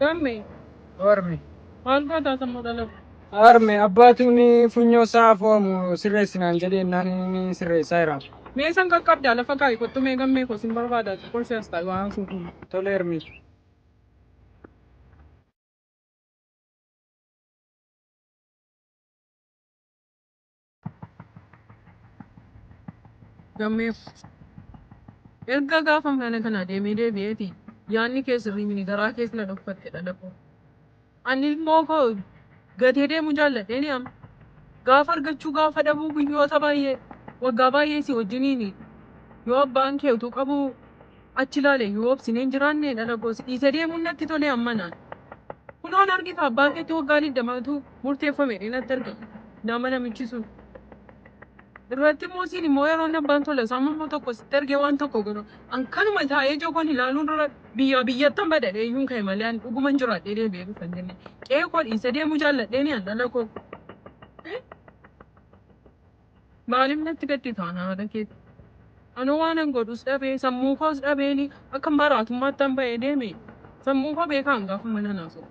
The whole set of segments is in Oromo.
Harme. Harme. Maal gootaa sammoo dhalatu? Harme abbaatuun funyoo isaa afoomu sirreessi naan jedhee naan inni sirreessaa jira. Mee san qaqqabdaa lafa kaa'i kottu mee gammee koo sin barbaadaa xiqqoo si as taa'i waa haasofnu. Tole Harme. Gammee erga gaafa mana kana deemee deebi'eeti yaanni kee sirrii mini garaa kees na dhokfatte dhala koo. Ani ilmoo koo gatee deemuu jaalladheeni amma. Gaafa argachuu gaafa dhabuu guyyoota baay'ee waggaa baay'ee si wajjiniini yoo abbaan kee utuu qabuu Achi ilaale yoo obsinee hin jiraanne dhala koo si dhiisee deemuun natti tole amma naan. Kunoo nargi ka abbaa keetti waggaa digdama utuu murteeffame jedhee natti argame nama namichi sun. Irratti immoo siin immoo yeroon abbaan tola isaa mormu tokko sitti argee waan tokko godhu an kanuma taa'ee ija koon ilaaluu dura biyyaa biyyattan bada jedhee iyyuun ka'e malee an dhuguman jiraadhee deebi'ee dhufa hin jenne qe'ee koo dhiisee deemuu jaalladheeni an dhala koo. Maaliif natti gaddita ana haadha keetti? Anoo waanan godhus dhabee sammuu koos dhabeeni akkan maraatummaattan ba'ee deeme sammuu koo beekaan gaafa mana naa soqu.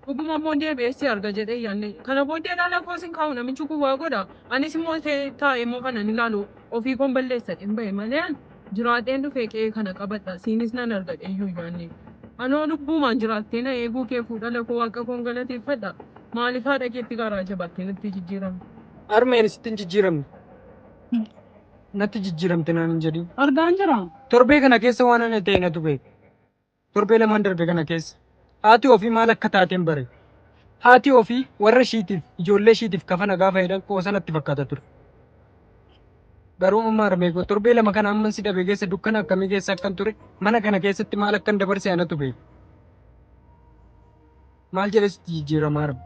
Dhuguma immoo deebi'ee si arga jedhee yaanne kana booddee ilaala koos hin kaa'u namichi kun waa godha anis immoo taa'ee immoo kanan ilaalu ofii koon balleessadheen ba'e malee an Jiraadheen dhufee qe'ee kana qabadha, siinis nan arga dheeyyuu hin yaanne. Anoo lubbuumaan jiraattee na eeguu kee fuu dhala koo Waaqa koon galateeffadha. Maaliif haadha keetti garaa jabaattee natti jijjiiramte? Harmee ani sitti hin jijjiiramne. Natti jijjiiramte naan hin jedhiin. Argaan jira. Torbee kana keessa waan ana ta'e natu beeka. Torbee lamaan darbe kana keessa haati ofii maal akka taateen bare. Haati ofii warra ishiitiif, ijoollee ishiitiif kafana gaafa jedhan qoosa natti fakkaata ture. Garuu amma armeekoo torbee lama kana amman si dhabe keessa dukkana akkamii keessa akkan ture mana kana keessatti maal akkan dabarse anatu beeka. Maal jedhee sitti jijjiirama har'a?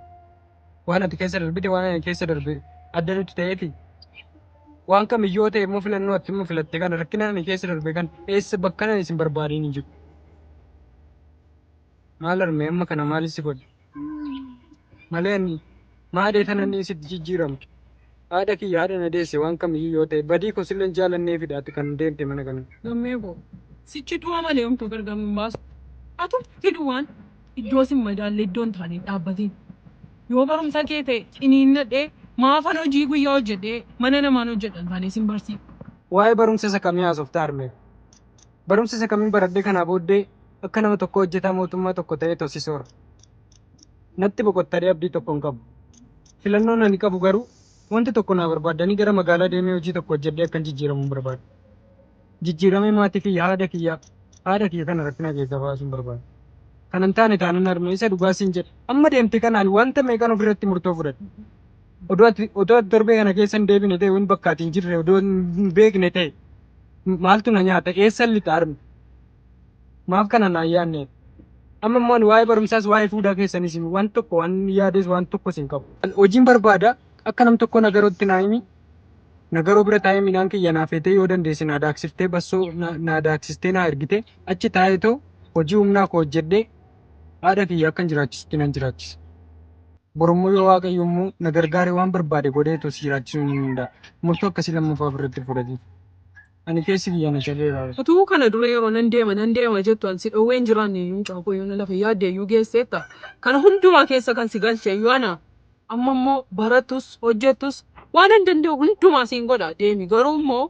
Waan ati keessa darbite waan ani keessa darbe adda nutti ta'eeti. Waan kam yoo ta'e immoo filannoo ati immoo filatte kana rakkina ani keessa darbe kan eessa bakka nan isin barbaadeen hin jiru. Maal harmee amma kana maal si godhe? Malee ani Maadee tana ni sitti jijjiiramtu. Haadha kiyya haadha na deesse waan kamiyyuu yoo ta'e badii koo silleen jaalanneefidha ati kan deemte mana kana. Gammee koo sichi du'a malee homtuu gargar nun baasu. Atumti duwwaan iddoo sin madaalle iddoo hin taane hin dhaabbatiin. Yoo barumsa kee ta'e ciniinnadhee maafan hojii guyyaa hojjedhee mana namaan hojjedha hin taane sin barsiifadha. Waa'ee barumsa isa kamii haasofta harmee koo? Barumsa isa kamin baradhe kanaa booddee akka nama tokkoo hojjetaa mootummaa tokko ta'ee tosi soora. Natti boqottadhee abdii tokko hin qabu. Filannoon ani qabu garuu wanti tokko naa barbaaddanii gara magaalaa deemee hojii tokko hojjedhee akkan jijjiiramuun barbaada. Jijjiiramee maatii kiyya haadha kiyya haadha kiyya kana rakkina keessaa baasuun barbaada. Kanan taane taanan harmee isa dhugaa siin jedhe amma deemte kanaan wanta meeqan ofirratti murtoo fudhadhe. Odoo ati odoo ati torbee kana keessa hin deebine ta'e wanti bakka ati hin jirre odoo hin beekne ta'e maaltu na nyaata eessan lixa armi maaf kana naan yaadne amma immoo ani waa'ee barumsaas waa'ee fuudaa keessanis waan tokko waan yaades waan tokkos hin qabu An hojiin barbaada akka nam tokko nagarootti naa himi nagaroo bira taa'ee midhaan kiyya naa feetee yoo dandeesse naa daaksiftee bassoo na- naa daaksistee naa ergite achi taa'ee too hojii humnaa koo hojjedhee Haadha kiyya akkan jiraachisutti nan jiraachisa. Borummoo yoo Waaqayyo immoo na gargaare waan barbaade godhee too si jiraachisuu ni danda'a. Murtoo akkasii lammaffaa ofirratti fudhatiin. Ani keessi kiyya na cabeera. Utuu kana dura yeroo nan deema nan deema jettu an si dhowwee hin jiraanne iyyuu mucaa koo yoona lafa yaadde iyyuu geesseetta. Kana hundumaa keessa kan si galche iyyuu ana. Amma immoo barattus hojjettus waanan danda'u hundumaa siin godha deemi garuu immoo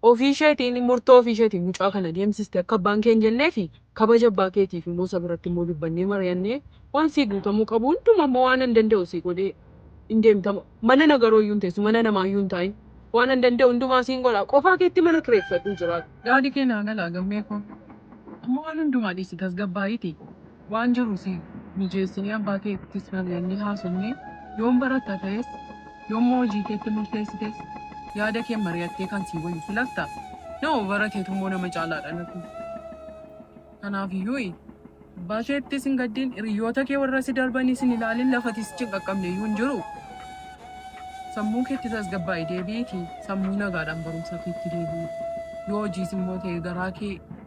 Ofii isheetiin murtoo ofii isheetiin mucaa kana deemsiste akka abbaan kee hin jenneefi kabaja abbaa keetiif immoo isa biratti immoo dubbannee mari'annee waan sii guutamuu qabu hundumaa immoo waanan danda'u sii godhee hin deemta mana nagaroo iyyuu hin teessu mana namaa iyyuu hin taa'in waanan danda'u hundumaa siin godha qofaa keetti mana kireeffadhuu jiraadhu. Yaadi kee naa gala Gammee koo. Amma waan hundumaa dhiisi tasgabbaa'iitii. Waan jiru sii mijeessinee abbaa keettis mari'annee haasofnee yoom baratta ta'es yoommoo hojii keetti murteessites yaada keen mari'attee kan sii wayyu filatta nama barateetummoo nama caalaa dhalatu kanaafiyyuuy abbaa keettis hin gaddin hiriyyoota kee warra si darbanis hin ilaalin lafati sichi hin qaqqabneyyuu hin jiru sammuu keetti tasgabbaa'i deebi'iiti sammuu nagaadhaan barumsa keetti deebi'i yoo hojiisimmoo ta'e garaa kee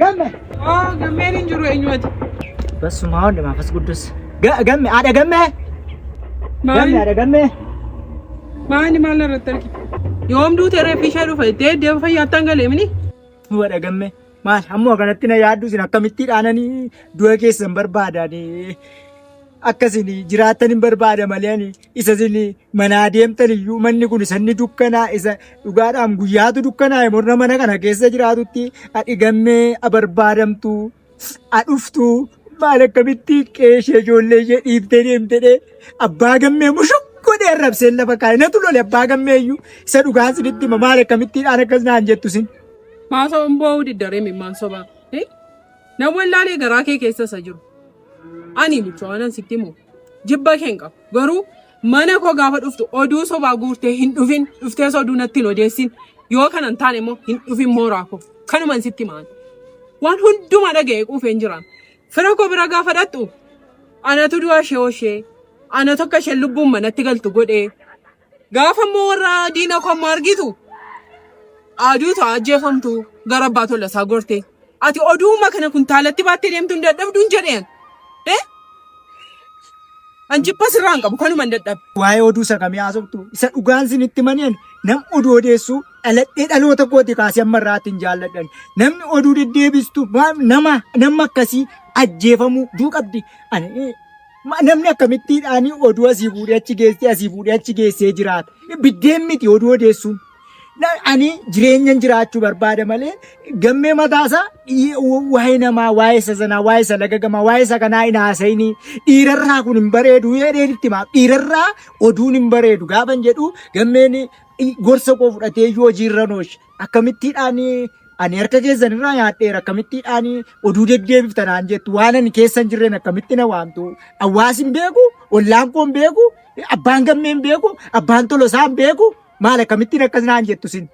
Gamme. Oo gammeen hin jiru eenyuuti? Bassumaa hunda maafas guddus. Gamme haadha gamme. Gamme Maali haadha gamme. maali maal irratti argite? Yoom duute reeffi ishee dhufa itti deemu fayyaattaan galee mini? Nu haadha gamme. Maal ammoo akkanatti na yaaddu isin akkamitti dhaananii du'a keessan barbaadani. Akkasiin jiraattan hin barbaada malee ani isa isin manaa deemtan iyyuu manni kun isa inni dukkanaa isa dhugaadhaan guyyaatu dukkanaa'e morna mana kana keessa jiraatutti adhigammee abarbaadamtu adhuftu maal akkamitti qeeshee ijoollee ishee dhiiftee deemtedhe abbaa gammee mushuk godhee arrabseen lafa kaa'e natu lole abbaa gammee iyyuu isa dhugaan sinitti hima maal akkamittiidhaan akkas naan jettu sin. Maasoo hin boo'uu diddaree mimmaan sobaa. Namoonni ilaalee garaa kee keessa isa jiru. Ani mucaa waanan sitti himu. Jibba keen qabu. Garuu mana koo gaafa dhuftu oduu sobaa guurtee hin dhufin dhuftees oduu natti hin odeessin yoo kana hin taane immoo hin dhufin mooraa koo kanuman sitti maan waan hundumaa dhaga'ee quufeen jira fira koo bira gaafa dhaqxu anatu du'a ishee oshee anatu akka isheen lubbuun manatti galtu godhee Gaafa immoo warra diina koo amma argitu aduu ta'a ajjeefamtu gara abbaa tola isaa gorte. Ati oduuma kana kuntaalatti baattee deemtu hin dadhabdu hin jedheen. Eh? An jibba sirraa hin qabu kanuma hin dadhabe. Waa'ee oduu isa kamii haasoftu? Isa dhugaan sin itti mani'an nam oduu odeessuu dhaladhee dhaloota kooti kaasee amma irraatti hin jaalladhan. Namni oduu deddeebistu maal- nama nama akkasii ajjeefamuu duu qabdi. Ani Ma- Namni akkamittiidhaan oduu asii fuudhee achi geessee asii fuudhee achi geessee jiraata. Biddeen miti oduu odeessuun. Na- Ani jireenyan jiraachuu barbaada malee gammee mataasaa dhiyee- wa- waa'ee namaa, waa'ee isa sanaa, waa'ee isa lagagamaa, waa'ee isa kanaa hin haasa'inii. Dhiirarraa kun hin bareedu jedheen itti himaaf. Dhiirarraa oduun hin bareedu gaafan jedhu gammeen i- gorsa koo fudhatee iyyuu hojiirra nooshe. akkamittiidhaanii ani harka keessan irraa nyaadheera akkamittiidhaanii oduu deddeebifta naan jettu waan ani keessa hin jirreen akkamitti na waamtu hawaasi hin beeku ollaan koo hin beeku abbaan gammee hin beeku abbaan tolosaa hin beeku maal akkamittiin akkas naan jettu sin.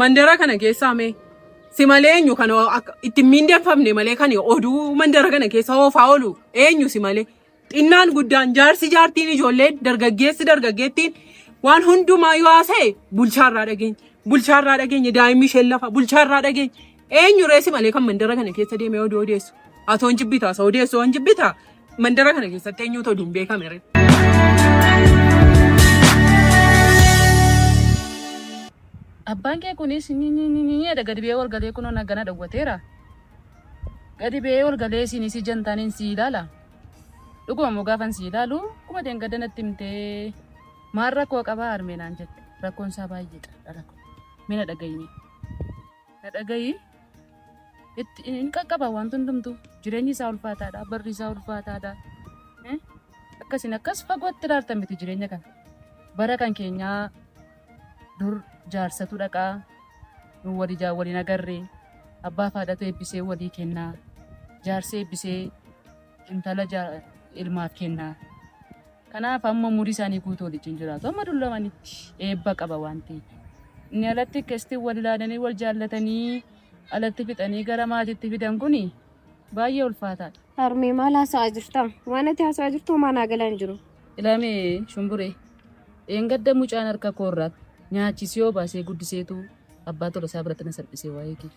Mandara kana keessaa mee si malee eenyu kan akka- itti hin miindeffamne malee kan oduu mandara kana keessa oofaa oolu eenyu si malee Xinnaan guddaan jaarsi jaartiin ijoolleen dargaggeessi dargaggeettiin waan hundumaa yoo haasa'e bulchaarraa dhageenya. Bulchaarraa dhageenya daa'imni isheen lafa bulchaarraa dhageenya. Eenyu reessi malee kan mandara kana keessa deemee oduu odeessu. Atoo hin jibbitaa isa odeessu hin jibbitaa mandara kana keessatti eenyuutu oduun beekame ree. Abbaan kee kunis nyinyinyinyidha gadi biyee walgalee kunoo nagana dhawwateera. Gadi ba'ee ol galee isin isii jantaaniin sii ilaala? Dhuguma immoo gaafan sii ilaalu akkuma dheengadda natti himtee maal rakkoo qabaa harmee naan jette rakkoon isaa baay'eedha dhala koo mee na dhagayimee na dhagayii itti hin qaqqaba wanti hundumtuu jireenyi isaa ulfaataadha barri isaa ulfaataadha Eh? akkasiin akkas fagootti ilaaltan miti jireenya kana bara kan keenyaa dur jaarsatu dhaqaa nu wal ijaan wal hin agarre abbaa fi haadhatu eebbisee walii kenna jaarsi eebbisee intala ilmaaf kenna kanaaf amma umurii isaanii guutuu waliin jiraatu amma dullamanitti eebba qaba waan ta'eef inni alatti keessatti wal ilaalanii wal jaallatanii alatti fixanii gara maatiitti fidan kuni Baay'ee ulfaataadha. Harmee maal haasa'aa jirta? Waan ati haasa'aa jirtu homaa naa galaa hin jiru. Ilaamee shumburee dheengadda mucaan harka koorraa nyaachisee yoo baasee guddiseetu abbaa tola isaa biratti na salphisee waa'ee keef.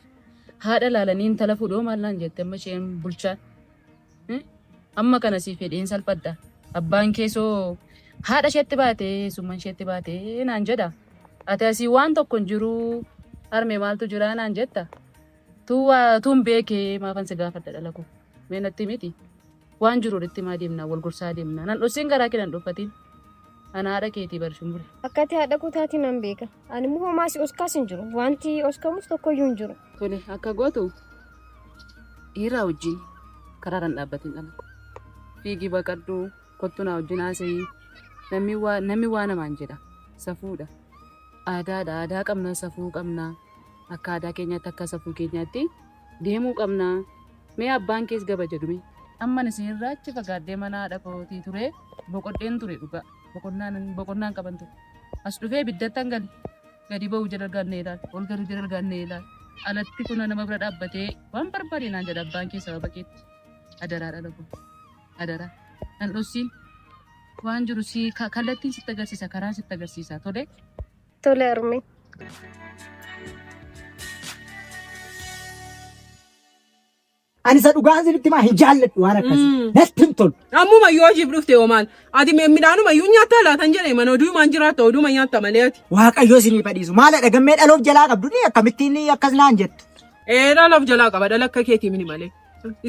Haadha laalanii intala fuudhoo maal naan jette amma isheen bulchaan. Hmm? Amma kana siif fedheen salphadha. Abbaan keessoo haadha isheetti baatee summan isheetti baatee naan jedha. Ati asii waan tokko hin jiruu harmee maaltu jiraa naan jetta. Tuu waa tuun beeke maafan si gaafadha dhala koo. Mee natti miti. Waan jiru walitti himaa deemna wal gorsaa deemna. Nan dhossiin garaa kee nan dhoffatiin. Ana haadha keetii bar shumbure. Akka ati haadha koo taate nan beeka. Ani immoo homaa si oskaas hin jiru. Wanti oskamus tokkoyyuu hin jiru. Tole akka gootu dhiiraa wajjin karaa kan dhaabbatiin dhala koo. Fiigii baqadhu kottu naa wajjin haasa'ii. Namni waa namni waa namaan jedha. Safuudha. Aadaadha aadaa qabna safuu qabna. Akka aadaa keenyaatti akka safuu keenyaatti deemuu qabna mee abbaan kees gaba jedhu mee. Amman isin irraa achi fagaadhee mana haadha kootii turee boqodheen ture dhugaa boqonnaan boqonnaan qaban ture as dhufee ibiddattan gale gadi ba'u jala gaannee ilaal ol galu jala gaannee ilaal alatti kuna nama bira dhaabbatee waan barbaade naan jedha abbaan kee sababa keetti adaraa dhala koo adaraa nan dhossiin waan jiru si kallattiin sitti agarsiisa karaan sitti agarsiisa tole Tole harmee. Ani isa dhugaa isinitti himaa hin jaalladhu waan akkasii. Mm. Natti hin tolu. Ammuma yoo jiif dhufte yoo maal? Ati me- midhaanuma iyyuu nyaatta laatan jedhe mana oduumaan jiraatta oduuma nyaatta malee ati. Waaqayyo isinii fadhiisu. Maaladha gammee dhaloof jalaa qabdu ni akkamittiin akkas naan jettu. Ee dhalaaf jalaa qaba dhala akka keetii mini malee.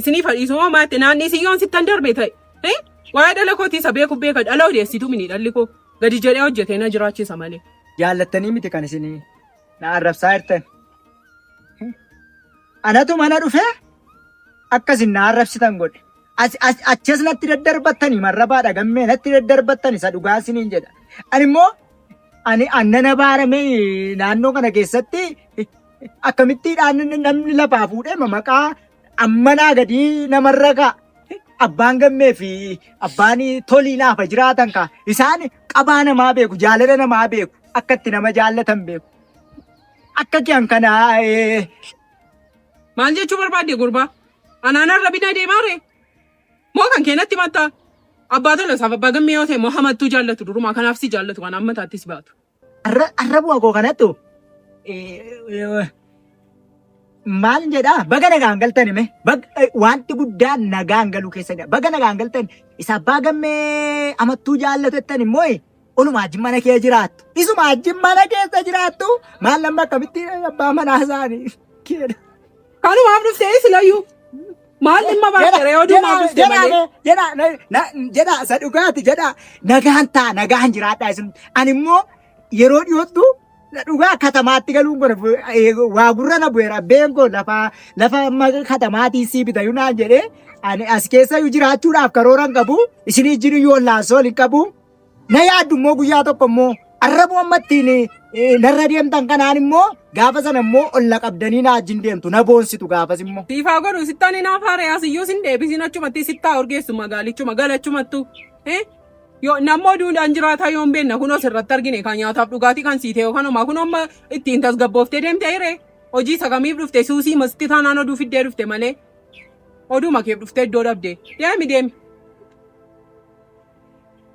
Isinii fadhiisu moo maatte naannii siyyoon sittan darbe ta'e. Hee? Waa'ee dhala kootii isa beeku beeka dhala odeessitu mini dhalli koo. Gadi jedhee hojjetee na jiraachisa malee. Jaallattanii miti kan isin na arrabsaa jirtan. Anatu mana dhufee akka isin na arrabsitan godhe. As- as- Achas natti daddarbattani marrabaadha gammee natti daddarbattani isa dhugaa isiniin jedha. Ani immoo ani annana baaramee naannoo kana keessatti akkamittiidhaan namni lafaa fuudhee maqaa ammanaa gadii namarra kaa abbaan gammee fi abbaan tolii naafa jiraatan kaa isaan qabaa namaa beeku jaalala namaa beeku akka itti nama jaallatan beeku akka kiyan kanaa ee, Maal jechuu barbaadde gurbaa? Anaanaan rabina deemaa ree? Moo kan keenatti mattaa? Abbaa tola isaaf abbaa gammee yoo ta'e moo hamattuu jaallatu durumaa kanaaf si jaallatu waan amma taattis baatu. Arrabuma koo kanattu maal jedhaa baga nagaan galtan hime wanti guddaa nagaan galuu keessadha baga nagaan galtan isa abbaa gammee amattuu jaallatettan immoo oluma ajjin mana kee jiraattu isuma ajjin mana keessa jiraattu maal lamma akkamitti abbaa manaa isaanii keedha. Kanuma haaf dhufte isilayyuu. Maal dhimma baate reeyoo duuba haaf dhufte malee. Jedha jedha isa dhugaati jedha nagaan taa nagaan jiraadha isin ani immoo yeroo dhiyoottu dhugaa katamaatti galuun kun waa gurra na bu'eera abbeen koo lafa lafa amma katamaatii sii bitayu naan jedhee ani as keessa jiraachuu dhaaf karooran qabu isin ijjiin yoo laasoo hin qabu. na yaaddu immoo guyyaa tokko immoo arrabuu amma ittiin eh, narra deemtan kanaan immoo gaafa sana immoo ol na qabdanii na wajjin deemtu na boonsitu gaafas immoo. Siifaa godhu sittaan hin hafaare asiyyuu sin deebisin achumatti sittaa urgeessu magaalichuma galachumattu. Eh? Yoo nammoo duudhaan jiraataa yoon beenna kunoo sirratti argine kan nyaataaf dhugaatii kan siite yookaan homaa kunoo amma ittiin tasgabbooftee deemte hiree. Hojii isa kamiif dhufte suusii masitti taanaan oduu fiddee dhufte malee. Oduu makeef dhufte iddoo dhabde. Deemi deemi.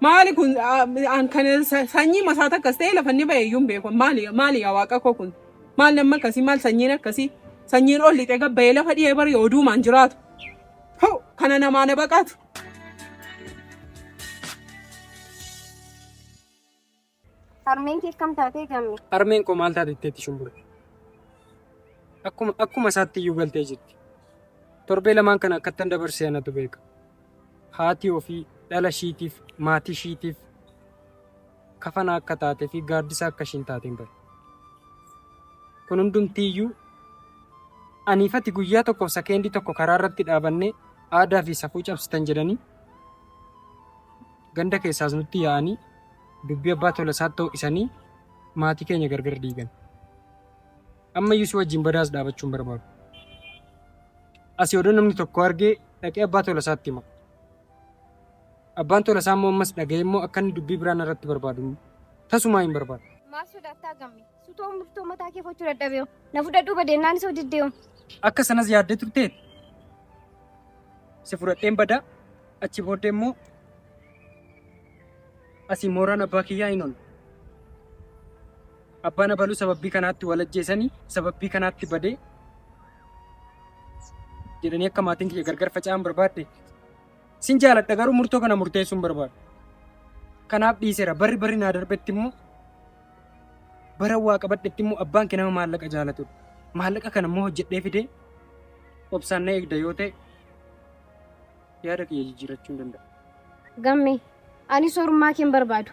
Maali kun ah, an kan sa- sanyii masaa takkas ta'e lafa inni ba'e iyyuu hin beeku. Maali maali yaa waaqa koo kun? Maal namni akkasii maal sanyiin akkasii? Sanyiin ol lixee gabba'ee lafa dhiyee bari oduumaan jiraatu. Hoo kana namaa na baqaatu. Harmeen kee akkam taatee gamme? Harmeen koo maal taate jetteetti shumbure? Akkuma akkuma isaatti iyyuu galtee jirti. Torbee lamaan kana akkattan dabarsee anatu beeka. Haati ofii dhala ishiitiif maatii ishiitiif kafana akka taatee fi gaaddisa akka ishiin taateen bare. Kun hundumtii iyyuu aniifati guyyaa tokkoof sakeendii tokko karaa irratti dhaabannee aadaa fi safuu cabsitan jedhanii Ganda keessaas nutti yaa'anii dubbii abbaa Tolasaatti ho'isanii maatii keenya gargar diigan. Ammayyuu si wajjin badaas dhaabachuu hin barbaadu. Asii odoo namni tokko argee dhaqee abbaa Tolasaatti hima. Abbaan Tolasaa immoo ammas dhaga'ee immoo akka inni dubbii biraa narratti barbaadu tasumaa hin barbaadu. Maal sodaattaa gamme? Sutoo murtoo mataa kee fochuu dadhabee na fudhadhuu badeennaan isoo diddee Akka sanas yaaddee turteet si fudhadheen badaa achi booddee immoo asii mooraan abbaa kiyyaa hin oolu. Abbaan abaluu sababii kanaatti wal ajjeesanii sababii kanaatti badee jedhanii akka maatiin kiyya gargar faca'an barbaadde. Sin jaaladha garuu murtoo kana murteessuun barbaada. Kanaaf dhiiseera barri barri naa darbetti immoo Baran waa qabadhetti immoo abbaan kee nama maallaqa jaalatudha. Maallaqa kana immoo hojjedhee fidee obsaan na eegda yoo ta'e yaada kiyya jijjiirrachuu hin danda'u. Gamme, ani soorummaa kee hin barbaadu.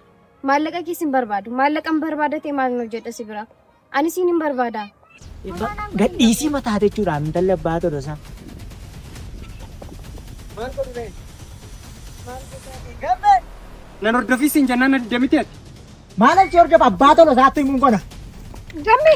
Maallaqa kees hin barbaadu. Maallaqa hin barbaada ta'e maal hin hojjedha si biraa? Ani siin hin barbaada. Gadhiisii mataa jechuudha intalli abbaa tolosaa. Nan hordofii siin jennaan na didde miti ati. Maal achi hordofa abbaa tolosaatti himuun qona. Gamme.